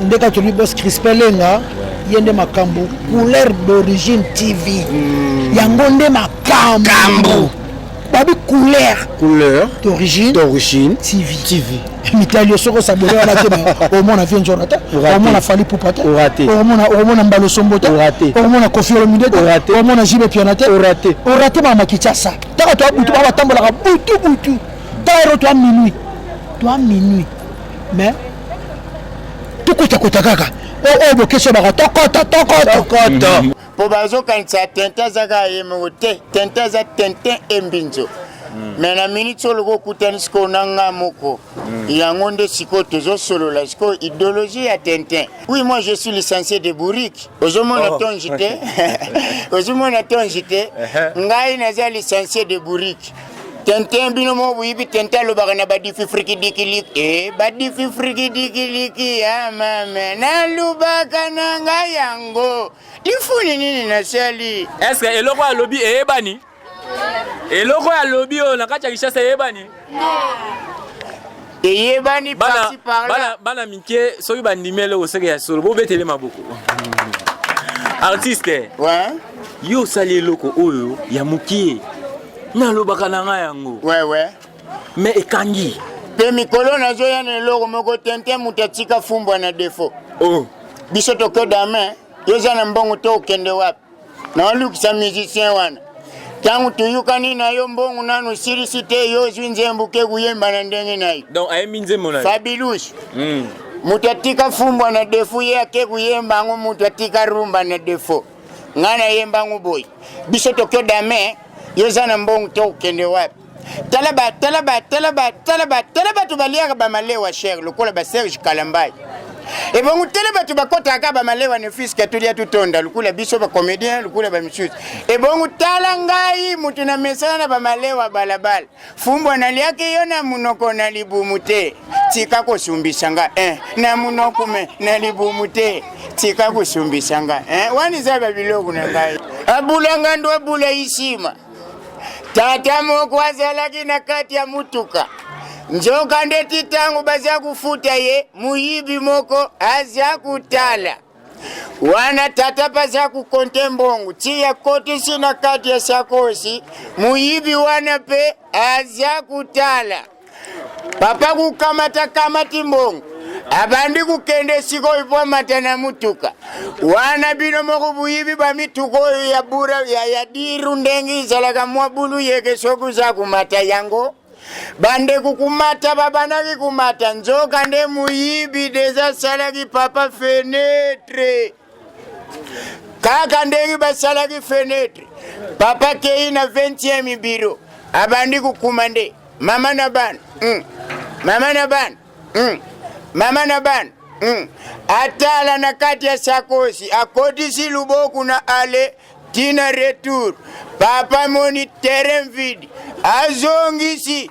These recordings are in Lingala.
nde kaka tolobi bos crispin lenga ye nde makambo couleur d'origine tv hmm. yango nde makambo babi couleur couleur d'origine d'origine tv tv mitali soki osabole wana te omona vie njona te omona fali pupa te omona mbalo sombo te omona kofi olomide te omona jibe piana te orate bamakichasa taka toa butu babatambolaka butu butu taka ero toa minuit toa minuit mais tokotakota kaka oyo oh, oh, bokesi obaka tokoto tokoto mpo bazokanisa tente aza kaka ye moko te tente aza tente embinzo mm. me na miniti oyo lokola okutani sikoyo na nga moko mm. yango nde sikoyo tozosolola sikoyo idéologie ya tintin oui moi je suis licencié de bourrique ozomona oh. tongi te ozomona tongi te uh-huh. ngai naza licencié de bourrique Tintin bino mo boyibi Tintin alobaka na badifi frikidikiliki e eh, badifi frikidikiliki ya ah, mame nalobaka na ngai yango lifuni nini nasali eske eloko alobi eyebani eloko alobi oyo na kati ya kishasa eyebani eyebani parti par là bana mike soki bandimi eloko seke ya solo bobetele maboko artiste ouais. yo osali eloko oyo ya mokie nalobaka na ngai yango ouais, ouais. me ekangi mpe mikolo nazoya na eloko moko tente moto atika fumbwa na defo oh. biso tokodame yo oza na mbongo to okende wapi naolukisa musicien wana ntango tuyukani na yo mbongo nanu osilisi te yo ozwi nzembo ke koyemba na ndenge na yo donc ayembi nzembo na fabilus mm. moto atika fumbwa na defo ye ake koyemba yango moto atika rumba na defo ngai nayemba yango boye biso tokyo dame yo oza na mbongo tokokende wapi tala ba tala ba tala ba tala ba tala bato baliaka bamalewa cher lokola ba serge kalambai ebongo tele bato bakotaka bamalewa ne fiske tolia totonda lokola biso bacomédien lokola bamisusu ebongo tala ngai moto na mesana na bamalewa balabala fumbwa naliaki yo na monoko na libumu te tika kosumbisa nga eh, na monoko me na libumu te tika kosumbisa nga eh, wana eza babiloko na ngai abulanga ndo abula isima Tata moko azalaki na kati ya motuka. Nzoka nde ti ntango baza kofuta ye, moyibi moko aza kotala wana tata baza kokonte mbongo ti akotisi na kati ya sakosi, moyibi wana mpe aza kotala. papa kukamata kamati mbongo abandi kokende sikoyo mpo amata na motuka wana bino moko boyibi bamituka oyo ya bura ya, ya diru ndenge ezalaka mwa bulu yeke soki oza komata yango bandeko komata babandaki komata nzoka nde moyibi deja asalaki papa fenetre kaka ndenge basalaki fenetre papa kei na 20e biro abandi kokuma nde mama na bana mm. mama na bana mm. mama na bana mm. atala na kati ya sakosi akotisi luboku na ale tina retour papa moni terrain vide azongisi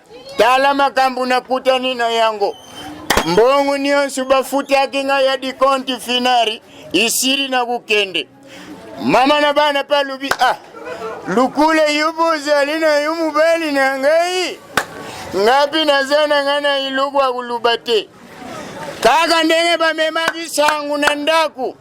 Tala makambo nakutani na yango. Mbongo nyonso bafutaki ngai ya dikonti finari isili na kokende. Mama na bana mpe alobi ah, lukula yo bozali na yo mobali na ngai ngapi naza na ngai na eloko ya koloba te kaka ndenge bamemaki sango na ndako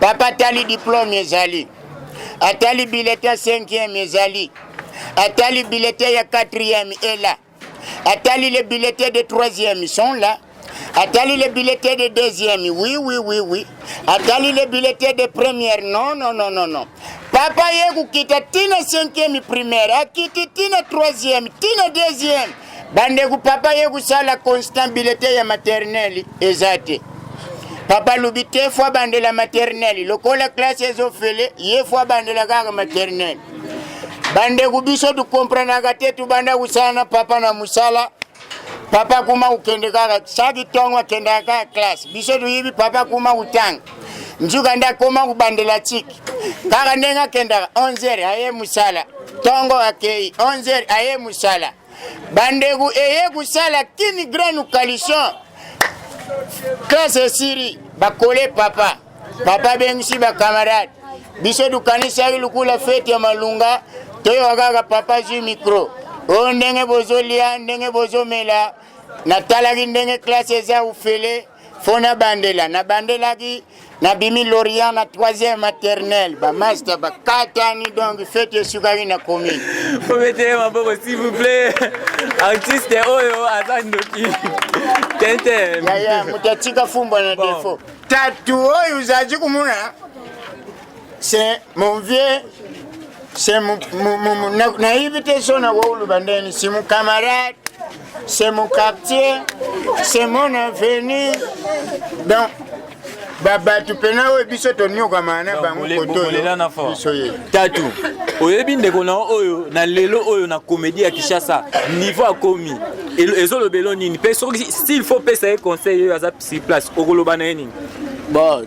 Papa tali diplome ezali. Atali bilete ya 5e ezali. Atali bilete ya 4e est là. Atali les billets de 3e sont là. Atali les billets de deuxième, oui, oui, oui, oui. Atali les billets de première, non, non, non, non, non. Papa Yegu kita tina cinquième primaire, akiti tina troisième, tina deuxième. Bandeko papa ye kusala constant bilete ya maternelle eza te. Papa lobi te fo abandela maternelle lokola classe ezofele ye fo abandela kaka maternelle. Bandeko biso tukomprenaka te tubanda kusala na papa na musala papa kuma ukende kaka saki tongo akendaka kaka classe biso tuyibi papa kuma utanga njuka nde akoma kobandela tiki kaka ndenge akendaka 11 aye mosala ntongo akei 11 aye mosala bandeko eye kosala kini grande coalition classe esiri bakole papa papa abengisi bakamarade biso tokanisaki lokola fete ya malunga toyoka kaka papa zwi mikro oyo ndenge bozolia ndenge bozomela natalaki ndenge klase eza ufele fo nabandela nabandelaki nabimi lorient na troisième maternelle bamasta bakatani donc fete esukaki na commune obetele maboko s'il vous plaît artiste oyo oh, aza ndoki tente yaya moto atika fumba na defo tatu oyo ozalaki komona C'est mon vieux c'est mon naïve te so na wawulu bandeni c'est mon camarade c'est mon quartier c'est mon avenir donc babato mpena oyo biso toniokama na bango kotobiso ye tatu oyebi ndeko na oyo na lelo oyo na komedi ya kinshasa niveau akomi ezolobelo nini mpe soki s'il faut pesa ye conseil oyo aza si place okoloba na ye nini bon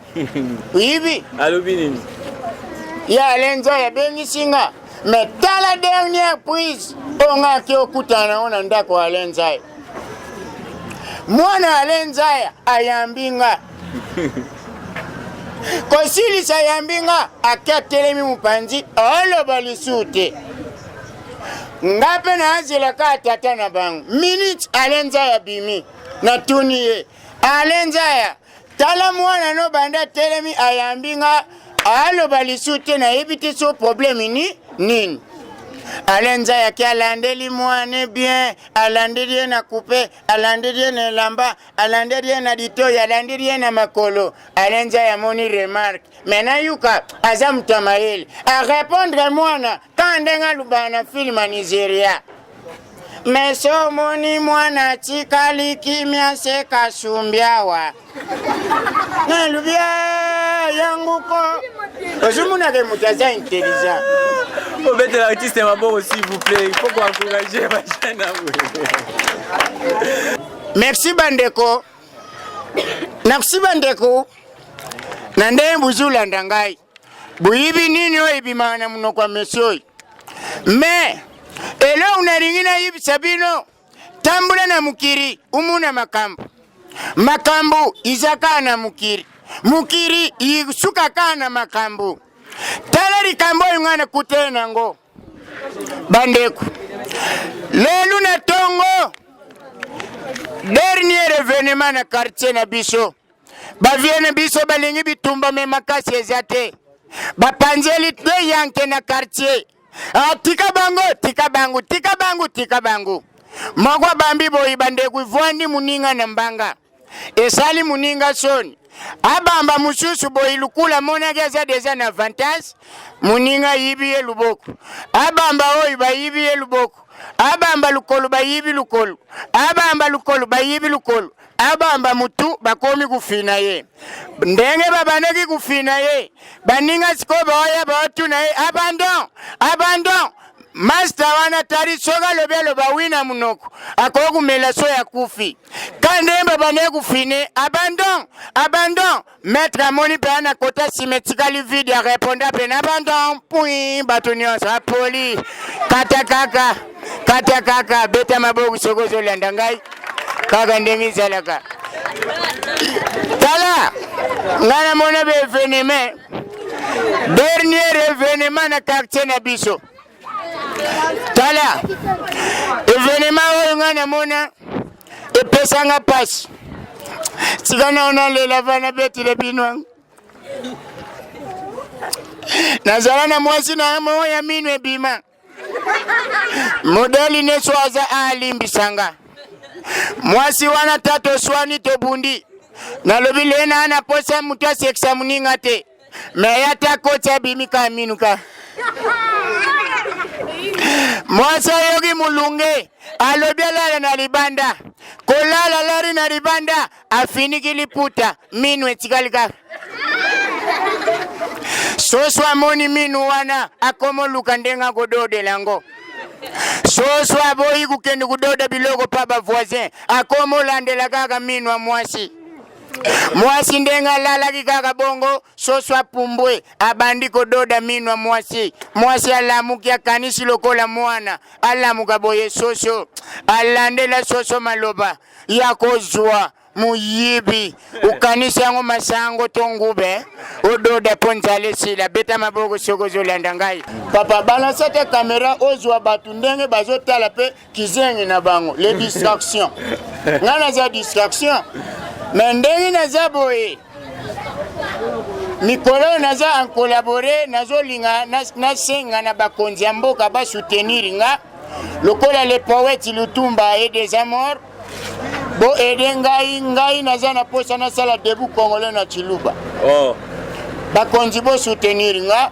oyibi alobi nini ya alenza yabengisi nga me tala dernière prise oyo nga ake okutana nango na ndako ya alenzaya mwana alenzaya ayambi nga kosilisa ayambi nga ake atelemi mopanzi oloba lisusu te nga mpe nazelaka ya tata na bango minute alenza ya bimi natuni ye alenza ya tala mwana no banda atelemi ayambi nga aloba lisu te nayebi te so probleme ni nini alenza yaki alandeli mwane bien alandeli ye na kupe alandeli ye na elamba alandeli ye na litoi alandeli ye na makolo alenza yamoni remarke me nayuka aza moto ya mayele arepondre mwana Tant ndenge alobaka na film ya Nigeria mais omoni mwana atikali kimia se kasumbi awa nalobi ah, yango ko ozomonaka moto aza intelligent obetela artiste maboko s'il vous plaît il faut koencourage bajene merci bandeko merci bandeko na ndenge bozolanda ngai boyibi nini oyo ebimaka na monoko ya mesi oyo me eloko nalingi nayebisa bino tambola na mokili omona makambo makambo iza kaka na mokili mokili isuka kaka na makambo tala likambo oyo ngai nakutani na yango bandeko lelo na ntongo dernier evenement na quartier na biso Ba vieux na biso balingi bitumba me makasi eza te. Bapanzeli de yanke na quartier. Ah, tika bango, tika bango, tika bango, tika bango. Moko bambi boyi bandeko ivwandi muninga na mbanga. Esali muninga soni. abamba mosusu boye lukula amonaki aza deja na avantage moninga ayibi ye luboko abamba oyo bayibi ye luboko abamba lukolo bayibi lukolo abamba lukolo bayibi lukolo abamba mutu bakomi kufina ye ndenge babandaki kufina ye baninga sikoyo baoya baotuna ye abandon abandon masta wana tali soki alobi aloba wi na monoko akoki komela so ya kufi ka ndenge babandaki kufine abandon abandon Maître amoni mpe ana kota nsima etikali vide ya reponda mpe na banton pui bato nyonso apoli kata kaka kata kaka beta maboko soki ozolanda ngai kaka ndenge ezalaka tala ngai namona ba eveneme dernier evenema na quartier na biso tala evenema oyo ngai namona epesanga mpasi tika nao nalela vana betile bino yango nazala na mwasi na yango ya mino ebima modeli nyonso aza alimbisa nga mwasi wana ta toswani tobundi nalobi lena na posa moto asekisa moninga te me ya ta koti abimi ka minu ka mwasi ayoki molunge alobi alala na libanda kolala alali na libanda afiniki liputa minu etikali kaka soso amoni minu wana akomoluka ndenge akododela yango soso aboyi kokende kododa biloko mpa bavoisin akomolandela kaka minu ya mwasi mwasi ndenge alalaki kaka bongo soso apumbwe abandi kododa mino ya mwasi mwasi alamuki akanisi lokola mwana alamuka boye soso alandela soso maloba ya kozwa moyibi okanisi yango masango to ngube ododa mpo nzala esila beta maboko soki ozolanda ngai papa balansa te kamera ozwa bato ndenge bazotala mpe kizengi na bango les distractions ngai naza distraction me ndenge naza boye mikolo oyo naza en collabore nazolinga nasenga na bakonzi ya mboka basoutenir nga lokola le poète lutumba et des amor boede ngai ngai naza na mposa nasala debout congolais na ciluba oh. bakonzi bosoutenir nga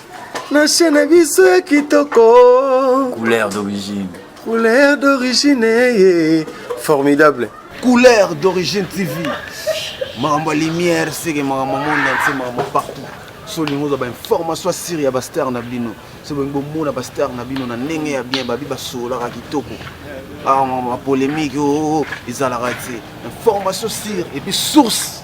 na chaîne na biso ya kitoko couleur d'origine couleur d'origine ye formidable couleur d'origine tv makambo ya lumière seke makambo monde entier makambo partout so olingi ozwa bainformation ya siri ya bastar na bino so bolingi bomona bastar na bino na ndenge ya bien babi basololaka kitoko bapolémike ah, o oh, oh, oh, ezalaka te information sire epuis source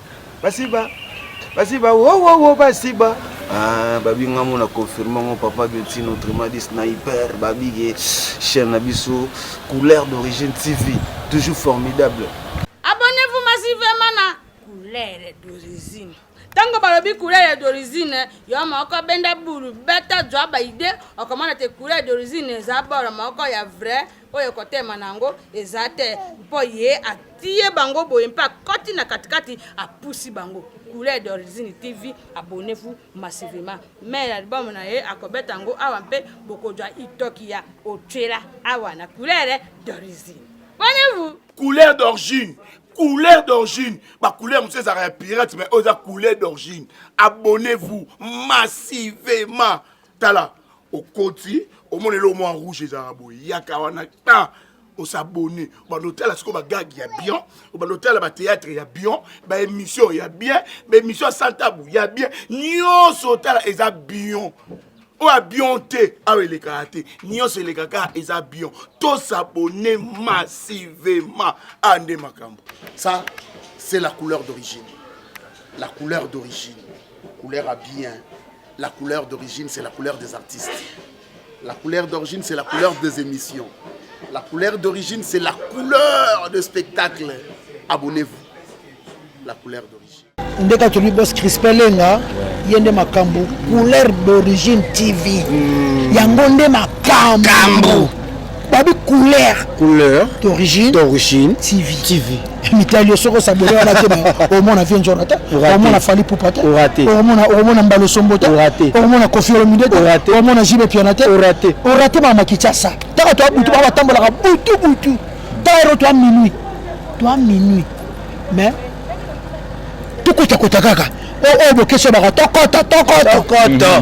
basiba basiba wowowo basiba ah, babinga ngo na confirme ngo papa bioti notre madi sniper babige chaîne na biso couleur d'origine tv toujours formidable abonnez-vous massivement na couleur d'origine ntango balobi couleur d'origine yo moko benda bulu beta zwa baide okomona te couleur d'origine eza bolo moko ya vrai oyo kotema na yango eza te mpo ye atie bango boye mpe akoti na katikati apusi bango couleur d'origine tv abonnez-vous massivement mais album na ye akobeta yango awa mpe bokozwa itoki ya otyela awa na couleur d'origine abonnez-vous couleur d'origine couleur d'origine bacouleur mosusu ezalaka ya pirate mais oyo eza couleur d'origine abonnez-vous massivement tala okoti omona eloko mwa rouge ezalaka boye yaka wana ta osabone obanda otala sikoyo bagage ya bien obanda otala bateatre ya bien baémission ya bien baémission ya santabu ya bien nyonso otala eza bien oyo abion te awa elekaka te nyonso elekaka eza bion tosabone massivement a nde makambo ça c'est la couleur d'origine la couleur d'origine couleur ya bien La couleur d'origine, c'est la couleur des artistes. La couleur d'origine, c'est la couleur des émissions. La couleur d'origine, c'est la couleur de spectacle. Abonnez-vous. La couleur d'origine. ndeka tolobi bos crispin lenga ye nde makambo couleur d'origine tv hmm. yango nde makambo babi couleur couleur d'origine d'origine tv tv mitali yo soki osabole wana te omona vie njona te omona fali pupa te omona mbalo sombo te omona kofi olomide te omona jibe piana te orate bamakichasa taka toa butu babatambolaka butu butu tayero toa minuit toa minuit mais tokotakota kaka oyo bokesi obaka tokota tokota